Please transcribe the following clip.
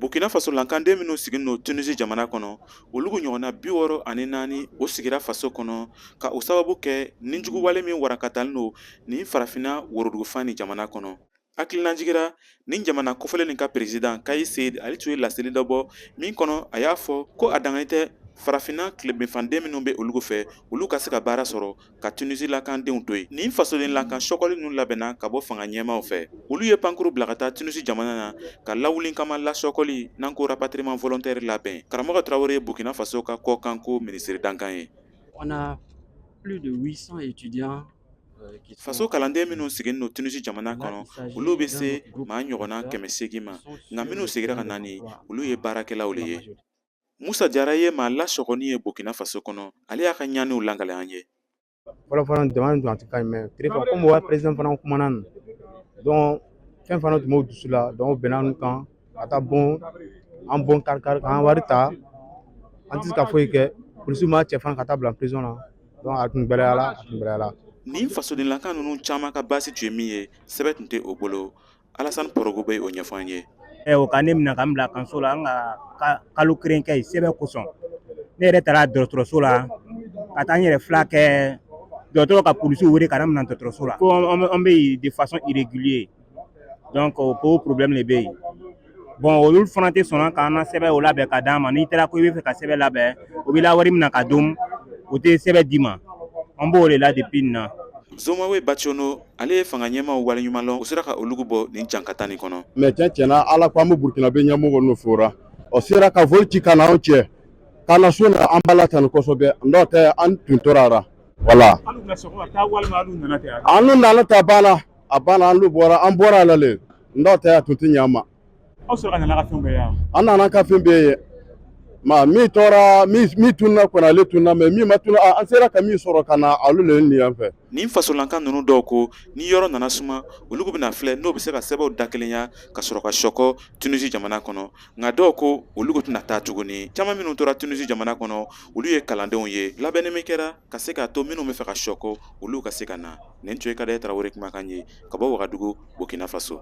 Burkina faso lankanden minnu sigilen don Tunisie jamana kɔnɔ olu ɲɔgɔnna bi wɔɔrɔ ani naani o sigira faso kɔnɔ ka o sababu kɛ ninjuguwale min walankatalen don nin farafinna worodugufan ni jamana kɔnɔ hakilinajigi ra nin jamana kofɔlen nin ka perezidan Kais Saied ale tun ye laseli dɔ bɔ min kɔnɔ a y'a fɔ ko a danganin tɛ farafinna tilebinfanden minnu bɛ olu fɛ olu ka se ka baara sɔrɔ ka tunisi lakandenw to yen nin fasoden lakan sɔkɔli ninnu labɛnna ka bɔ fanga ɲɛmaaw fɛ olu ye pankuru bila ka taa tunisi jamana na ka lawuli kama lasɔkɔli n'an ko rapatriement volontaire labɛn karamɔgɔ tarawele ye burkina faso ka kɔkanko minisiri dankan ye On a plus de 800 étudiants faso kalanden minnu sigilen don tunisi jamana kɔnɔ olu bɛ se maa ɲɔgɔnna kɛmɛ seegin ma nka minnu segira ka nani olu ye baarakɛlaw le ye musa jara ye maa lasɔgɔni ye burkina faso kɔnɔ ale y'a ka ɲaniw lakali an ye fɔlɔ fana jamana nin tun a tɛ ka ɲi mais terefa komi wa perezidan fana kumana nin donc fɛn fana tun b'o dusu la donc o benna an kan ka taa bon an bon kari kari k'an wari ta an tɛ se ka foyi kɛ polisiw m'a cɛ fana ka taa bila prison na tun gbɛlɛyala nin fasoden lakan ninnu caman ka baasi tun ye min ye sɛbɛn tun tɛ o bolo alasan porogo bɛ o ɲɛfɔ an ye ɛ o ka ne minɛ ka n bila kaso la an ka kalo kelen kɛ yen sɛbɛn kosɔn ne yɛrɛ taara dɔgɔtɔrɔso la ka taa n yɛrɛ filakɛ dɔgɔtɔrɔ ka polisiw wele ka na minɛ dɔgɔtɔrɔso la ko an bɛ yen de façon irrégulière donc ko problème de bɛ yen bon olu fana tɛ sɔn k'an na sɛbɛn o labɛn ka d'an ma n'i taara ko i bɛ fɛ ka sɛbɛn labɛn o b'i la wari mina ka dun o tɛ sɛbɛn d'i ma an b'o de la depuis nin na zomawe bacono ale ye fanga ɲɛmaw waleɲumanlɔn u sera ka olugu bɔ nin jankata nin kɔnɔ mais cɛn cɛn na ala ko an bɛ burukinabe ɲɛmɔgɔ nu fora o sera ka vol ci ka na anw cɛ ka na so na an b'ala tanu kosɛbɛ n'o tɛ an tun tɔɔrɔra voilà an nana ta banna a banna an bɔra an bɔra ala le n'o tɛ a tun tɛ ɲɛ an ma aw sɔrɔ nana ka fɛn bɛɛ ye an nana ka fɛn bɛɛ ye ma min tora min tununna kɔnɔ ale tununna mais min ma tun an sera ka min sɔrɔ ka na olu le nin yan fɛ nin fasolankan ninnu dɔw ko ni yɔrɔ nana suma olu bɛna filɛ n'o bɛ se ka sɛbɛnw dakelenya ka sɔrɔ ka sɔkɔ tunisi jamana kɔnɔ nka dɔw ko olu tɛna taa tuguni caman minnu tora tunisi jamana kɔnɔ olu ye kalandenw ye labɛnni min kɛra ka se k'a to minnu bɛ fɛ ka sɔkɔ olu ka se ka na nin tun ye kadayɛ tarawele kumakan ye ka bɔ wagadugu burkina faso